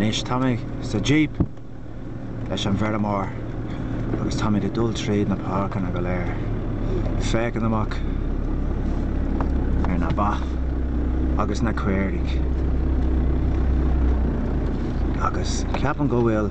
Anois táimid sa jíp leis an bhfeirmeoir agus táimid ag dul tríd na páirceanna go léir, féachaint amach ar na ba agus na caoirigh agus ceapaim go bhfuil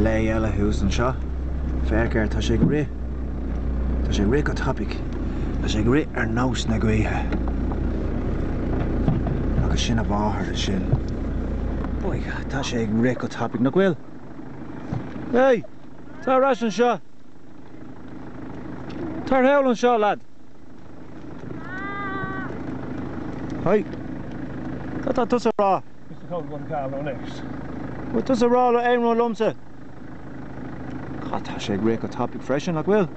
lao eile thuas anseo, féach air, tá sé ag rith, tá sé ag rith go tapaidh. Tá sé ag rith ar nós na gaoithe agus sin a mháthair ansin. Boy, tá sé ag rith go tapaidh, nach bhfuil? Hey, tar ar ais anseo. Tar thall anseo, lad. Hey, cad tá tusa a rá? Bhfuil tusa a rá aon rud liomsa? Tá sé ag rith go tapaidh freisin, nach bhfuil?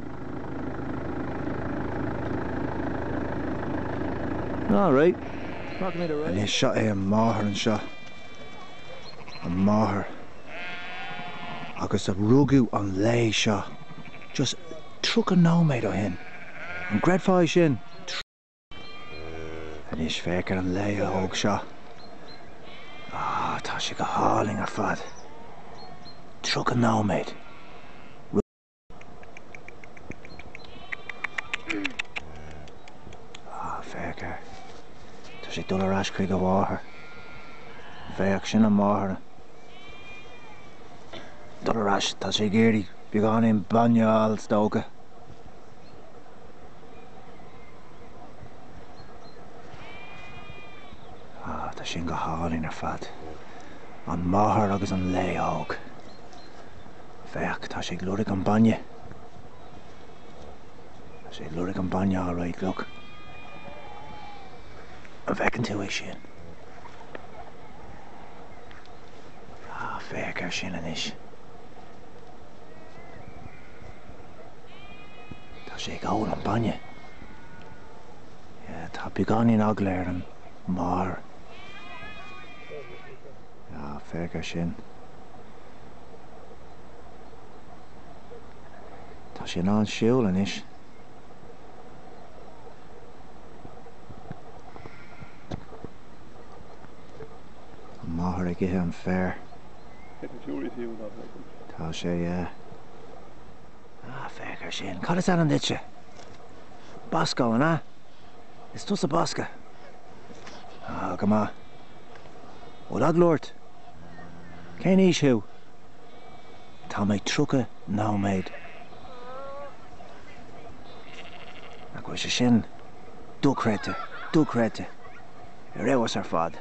Alright. Anois seo é an máthair anseo. An máthair. Agus a rugadh an lao seo. Just tríocha nóiméad ó shin. An gcreidfeá é sin? Anois féach ar an lao óg seo. Ááá tá sé go hálainn ar fad. Tríocha nóiméad. Ááá féach air. Tá sé ag dul ar ais chuig a mháthair. Féach sin a máthair ag dul ar ais. Tá sé ag iarraidh beagáinín bainne a fháil is dócha. Ah, tá sin go hálainn ar fad. An máthair agus an lao óg. Féach, tá sé ag lorg an bainne. Tá sé ag lorg an bainne á réidh glug. An bhfeiceann tú é sin? Ah, féach ar sin anois. Tá sé ag ól an bainne. Yeah, tá beagáinín eagla ar an máthair. Ah, féach ar sin. Tá sé in ann siúl anois. An máthair ag ithe an féir. Tá sé, yeah. Ah, féach ar sin. Cad is ainm duitse? Bosco, an ea? Is tusa Bosco? Ah, go maith. Bhfuil eagla ort? Cén aois thú? Tá mé tríocha nóiméad. Nach bhfuil sé sin dochreidte, dochreidte. Ar fheabhas ar fad.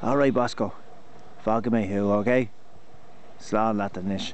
Alright Bosco, fágfaidh mé thú, okay? Slán leat anois.